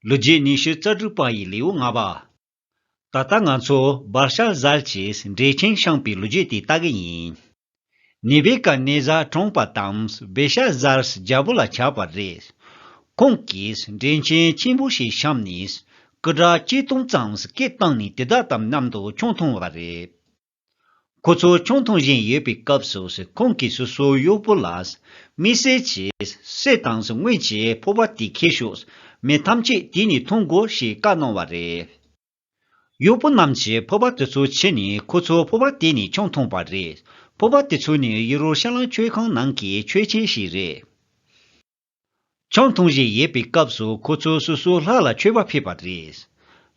ལོ་རྒྱུས་ཉི་ཤུ་རྩ་དྲུག་པ་ཡི་ལེའུ་ལྔ་པ། ད་ལྟ་ང་ཚོ་སྦར་ཤ་ཟལ་གྱིས་འབྲེལ་ཆེན་བཤངས་པའི་ལོ་རྒྱུས་དེ་ལྟ་གི་ཡིན། ནི་བེ་ཀ་ནེ་ཟ་གྲོངས་པ་དང་བེ་ཤ་ཟལ་རྒྱལ་པོ་ལ་ཆགས་པ་རེད། ཁོང་གིས་འབྲེལ་ཆེན་ཆེན་པོ་ཞིག་བཤམས་ནས་སྐུ་དྲག་གཅིག་སྟོང་ཙམ་སྐད་བཏང་ནས་དེ་དག་དམ་མཉམ་དུ་ཁྱུང་མཐོང་བ་རེད། ཁོ་ཚོ་ཆུང་འཐུང་བཞིན་ཡོད་པའི་སྐབས་སུ་ཁོང་གིས་སོ་སོའི་གཡོག་པོ་ལ། མི་བསད་ཅིག། བསད་དང་སྔོན་གྱི་ཕོར་པ་དེ་འཁྱེར་ཤོག། མི་ཐམས་ཅད་དེ་ནས་འཐུང་དགོས་ཞེས་བཀའ་གནང་བ་རེད། གཡོག་པོ་རྣམས་ཀྱིས་ཕོར་པ་དེ་ཚོ་ཁྱེར་ནས་ཁོ་ཚོ་ཕོར་པ་དེ་ནས་ཆུང་འཐུང་བ་རེད། ཕོར་པ་དེ་ཚོ་ནི་ཡེ་རུ་ཤ་ལམ་ཆོས་ཁང་ནང་གི་ཆོས་ཆེན་ཞིག་རེད། ཆང་འཐུང་བཞིན་ཡོད་པའི་སྐབས་སུ་ཁོ་ཚོ་སོ་སོའི་ལྷ་ལ་མཆོད་པ་ཕུལ་བ་རེད།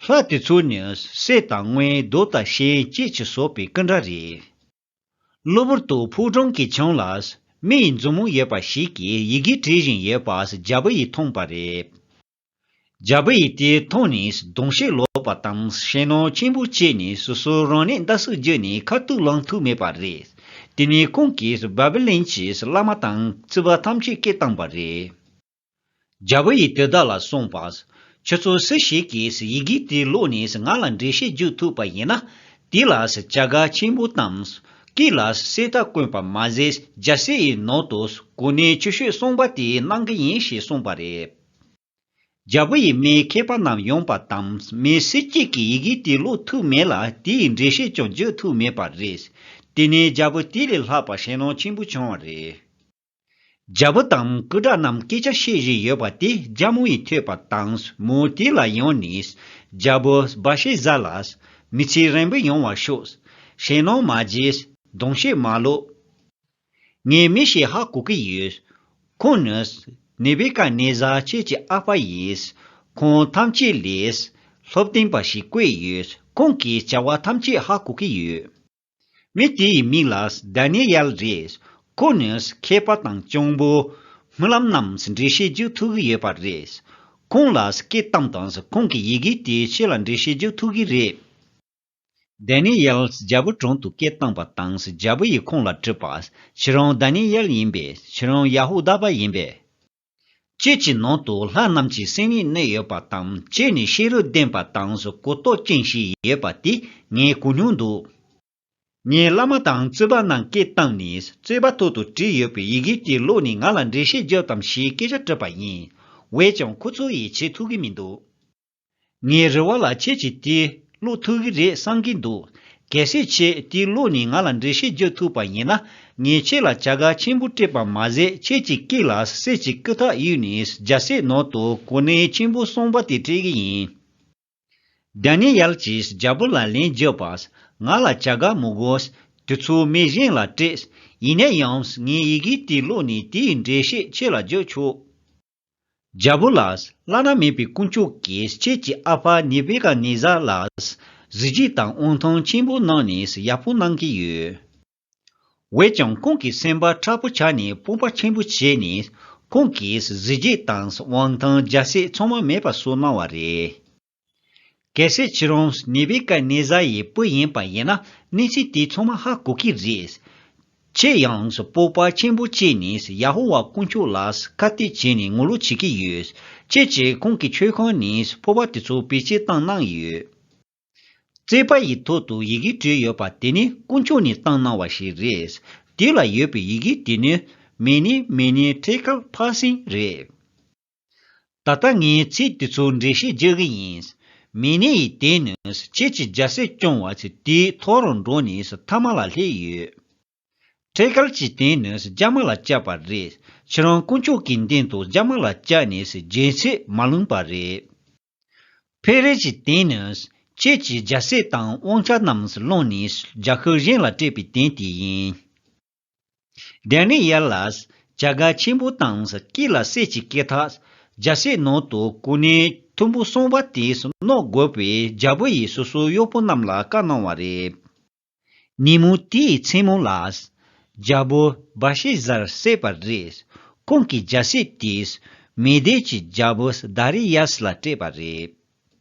ལྷ་དེ་ཚོ་ནི་སྲས་དང་སྔོན་གདོལ་དང་གཤེན་སྐྱེས་ཀྱི་སོག་པའི་ཀི་འདྲ་རེད། གློ་བུར་དུ་ཕུག་འབྲོང་གི་ཆང་ལ་མི་ཡི་འཛུབ་མོ་ཡོད་པ་ཞིག་གིས་ཡི་གེ་བྲིས་བཞིན་ཡོད་པ་རྒྱ་བོད་ཡིས་མཐོང་པ་རེད། རྒྱ་བོད་ཡིག་དེ་མཐོང་ནས་གདོང་བཤིག་ལོག་པ་དང་ཞེད་སྣང་ཆེན་པོ་སྐྱེས་ནས་སོ་སོའི་རང་ནད་འདི་སུས་བརྒྱུད་ནས་ཁ་ཐུག་ལངས་ཐུབ་མེད་པ་རེད། དེ་ནས་ཁོང་གིས་བ་བི་ལན་གྱི་བླ་མ་དང་རྩིས་པ་ཐམས་ཅད་བསྐྱེལ་བཏང་བ་རེད། རྒྱ་བོད་ཡིག་དེ་བདག་ལ་གསུངས་པ། ཁྱོད་ཚོ་སུ་ཞིག་གིས་ཡི་གེ་དེ་ཀློག་ནས་ང་ལ་འགྲེལ་བཤད་བརྒྱུད་ཐུབ་པ་ཡིན་ན། དེ་ལ་བྱ་དགའ་ཆེན་པོ་དང། སྐེ་ལ་གསེར་རྟ་བསྐོན་པ་མ་ཟད་རྒྱལ་སྲས་ཡི་ནང་དུ་གོ་གནས་ཆེ་ཤོས་གསུངས་པ་དེ་གནང་གི་ཡིན་ཞེས་གསུངས་པ་རེད། རྒྱལ་པོ་ཡིས་མིའི་མཁས་པ་རྣམས་ཡོང་པ་དང་མི་སུ་གཅིག་གིས་ཡི་གེ་དེ་ཀློག་ཐུབ་མེད་ལ་དེ་ཡི་འགྲེལ་བཤད་ཀྱང་བརྗོད་ཐུབ་མེད་པ་རེད། དེ་ནས་རྒྱལ་པོ་དེ་ལས་ལྷག་པར་ཞེན་ལོང་ཆེན་པོ་བྱུང་བ་རེད། རྒྱལ་པོ་དང་སྐུ་དྲག་རྣམས་སྐད་ཆ་བཤད་བཞིན་ཡོད་པ་དེ་རྒྱ་མོ་ཡིས་ཐོས་པ་དང་མོ་དེ་ལ་ཡང་ནས། རྒྱལ་པོ་སྦ་ཤད་བཟའ་ལ། མི་ཚེ་རན་པོ་ཡོང་བར་ཤོག། ཞེན་ལོང་མ་བརྗེད། གདོང་བཤད་མ་ལོག། ངའི་མི་ཞིག་ཧ་གོ་གི་ཡོད། ཁོང་ནི། ནེ་བི་ཀ་ནེ་ཛར་ཁྱེད་ཀྱི་ཨ་ཕ་ཡིན། ཁོང་ཐམས་ཅད་ལས། སློབ་སྟོན་པ་ཞིག་བསྐོས་ཡོད། ཁོང་གིས་བྱ་བ་ཐམས་ཅད་ཧ་གོ་གི་ཡོད། མི་དེ་ཡི་མིང་ལ་དཱ་ནེ་ཡལ་རེད། ཁོ་ནི་མཁས་པ་དང་གཅུང་པོ། རྨི་ལམ་རྣམས་འབྲི་ཤེས་རྒྱུ་ཐུག་གི་ཡོད་པ་རེད། ཁོང་ལ་སྐད་གཏམ་དང་ཁོང་གི་ཡི་གེ་དེའི་ཆེད་ལ་འབྲི་ཤེས་རྒྱུ་ཐུག་གི་རེད། དཱ་ནི་ཡཱལ་རྒྱལ་པོ་དྲུང་དུ་སྐད་བཏང་བ་དང་རྒྱལ་པོ་ཡིས་ཁོང་ལ་དྲིས་པ། ཁྱེད་རང་དཱ་ནི་ཡཱལ་ཡིན་པས་ཁྱེད་རང་ཡ་ཧུ་དཱ་པ་ཡིན་པས། ཁྱེད་ཀྱི་ནང་དུ་ལྷ་རྣམས་ཀྱི་སེམས་ཡིད་གནས་ཡོད་པ་དང་ཁྱེད་ནི་ཤེས་རབ་ལྡན་པ་དང་གོ་རྟོགས་ཅན་ཞིག་ཡོད་པ་དེ་ངས་གོ་མྱོང་འདུག། ངའི་བླ་མ་དང་རྩོད་པ་ནང་སྐད་བཏང་ནས་རྩོད་པ་ཐོག་ཏུ་བྲིས་ཡོད་པའི་ཡི་གེ་དེ་ཀློག་ནས་ང་ལ་འགྲེལ་བཤད་རྒྱག་དམ་ཞེས་སྐད་ཆ་དྲིས་པ་ཡིན། འོས་ཀྱང་ཁོ་ཚོ་ཡིས་བྱེད་ཐུབ་ཀྱི་མི་འདུག། ངའི་རེ་བ་ལ་ཁྱེད་ཀྱིས་དེ་ཀློག་ཐུབ་གི་རེད་བསམ་གྱི་འདུག་གལ་སྲིད་ཁྱེད་དེ་ཀློག་ནས་ང་ལ་འགྲེལ་བཤད་རྒྱག་ཐུབ་པ་ཡིན་ན་ངས་ཁྱེད་ལ་བྱ་དགའ་ཆེན་པོ་སྤྲད་པ་མ་ཟད་ཁྱེད་ཀྱི་སྐེ་ལ་གསེར་གྱི་སྐུ་ཐག་གཡུག་ནས་རྒྱལ་སྲས་ནང་དུ་གོ་གནས་ཆེན་པོ་གསུངས་པ་དེ་སྤྲད་གི་ཡིན། དཱ་ནེ་ཡལ་གྱིས་རྒྱལ་པོ་ལ་ལན་བརྒྱབ་པ། ང་ལ་བྱ་དགའ་མི་དགོས། དེ་ཚོ་མི་གཞན་ལ་སྤྲད། ཡིན་ན་ཡང་ངའི་ཡི་གེ་དེ་ཀློག་ནས་དེའི་འགྲེལ་བཤད་ཁྱེད་ལ་རྒྱག་ཆོག། རྒྱལ་པོ་ལགས། བླ་ན་མེད་པའི་དཀོན་མཆོག་གིས་ཁྱེད་ཀྱི་ཨ་ཕ་ནེ་བེ་ཀ་ནེ་ཟཱ་ལ་གཟི་བརྗིད་དང་དབང་ཐང་ཆེན་པོ་གནང་ནས་ཡག་པོ་གནང་གི་ཡོད། འོད་ཀྱང་ཁོང་གི་སེམས་པ་ཁྲ་པོ་ཆགས་ནས་སྤོབས་པ་ཆེན་པོ་བྱས་ནས་ཁོང་གིས་གཟི་བརྗིད་དང་དབང་ཐང་རྒྱ་སྲས་ཚང་མ་མེད་པ་བཟོ་གནང་བ་རེད། གལ་སྲིད་ཁྱེད་རང་ནེ་བི་ཀ་ནེ་ཛཱ་ཡི་བུ་ཡིན་པ་ཡིན་ན་གནས་ཚུལ་དེ་ཚང་མ་ཧ་གོ་གི་རེད། ཁྱེད་ཡང་སྤོབས་པ་ཆེན་པོ་བསྐྱེད་ནས་ཡ་ཧོ་ཝཱ་དཀོན་མཆོག་ལ་ཁ་གཏད་བྱས་ནས་ངོ་ལོག་བྱེད་ཀྱི་ཡོད། ཁྱེད་ཀྱིས་ཁོང་གི་མཆོད་ཁང་ནས་ཕོར་པ་དེ་ཚོ་བེད་སྤྱད་བཏང་གནང་ཡོད། རྩིག་པ་ཡི་ཐོག་ཏུ་ཡི་གེ་བྲིས་ཡོད་པ་དེ་ནི་དཀོན་མཆོག་ནས་བཏང་གནང་བ་ཞིག་རེད། དེ་ལ་ཡོད་པའི་ཡི་གེ་དེ་ནི་མེ་ནི་མེ་ནི་ཁྲེ་ཁཱལ་བྷ་སིན་རེད། ད་ལྟ་ངས་ཚིག་དེ་ཚོ་འགྲེལ་བཤད་རྒྱག་གི་ཡིན། མི་ནི་ཡི་དེ་ནི་ཁྱེད་ཀྱི་རྒྱ་སེ་སྐྱོང་བ་ཚེ་དེའི་ཐོག་རུ་འགྲོ་ནས་མཐའ་མ་ལ་སླེབས་ཡོད། ཁྲེ་ཀལ་གྱི་སྟེང་ནས་རྒྱ་མ་ལ་བསྐྱལ་པ་རེད། ཁྱེད་རང་དཀོན་མཆོག་གི་མདུན་དུ་རྒྱ་མ་ལ་བསྐྱལ་ནས་རྒྱལ་སྲས་མ་ལུང་པ་རེད། ཕེ་རེ་གྱི་སྟེང་ནས་ཁྱེད་ཀྱི་རྒྱ་སྲས་དང་དབང་ཆ་རྣམས་བླངས་ནས་རྒྱ་ཤུག་གཞན་ལ་སྤྲད་པའི་དོན་དེ་ཡིན། བདེན་ནི་ཡལ་ལ། བྱ་དགའ་ཆེན་པོ་དང་སྐྱིད་ལ་སྲས་ཀྱི་སྐེ་ཐག། རྒྱལ་སྲས་ནང་དུ་སྐུ་ནི་ཐུམ་བུ་སོང་བ་དེས་གནོད་དགོས་པས་རྒྱལ་པོ་ཡིས་སོ་སོའི་གཡོག་པོ་རྣམས་ལ་བཀའ་གནང་བ་རེད། ཉིན་མོ་དེའི་མཚན་མོ་ལ། རྒྱལ་པོ་སྦ་ཤེ་བཟར་བསད་པ་རེད། ཁོང་གི་རྒྱལ་སྲས་དེས་མེ་སྡེ་གྱི་རྒྱལ་པོ་སྡ་རེ་ཡཱས་ལ་སྤྲད་པ་རེད།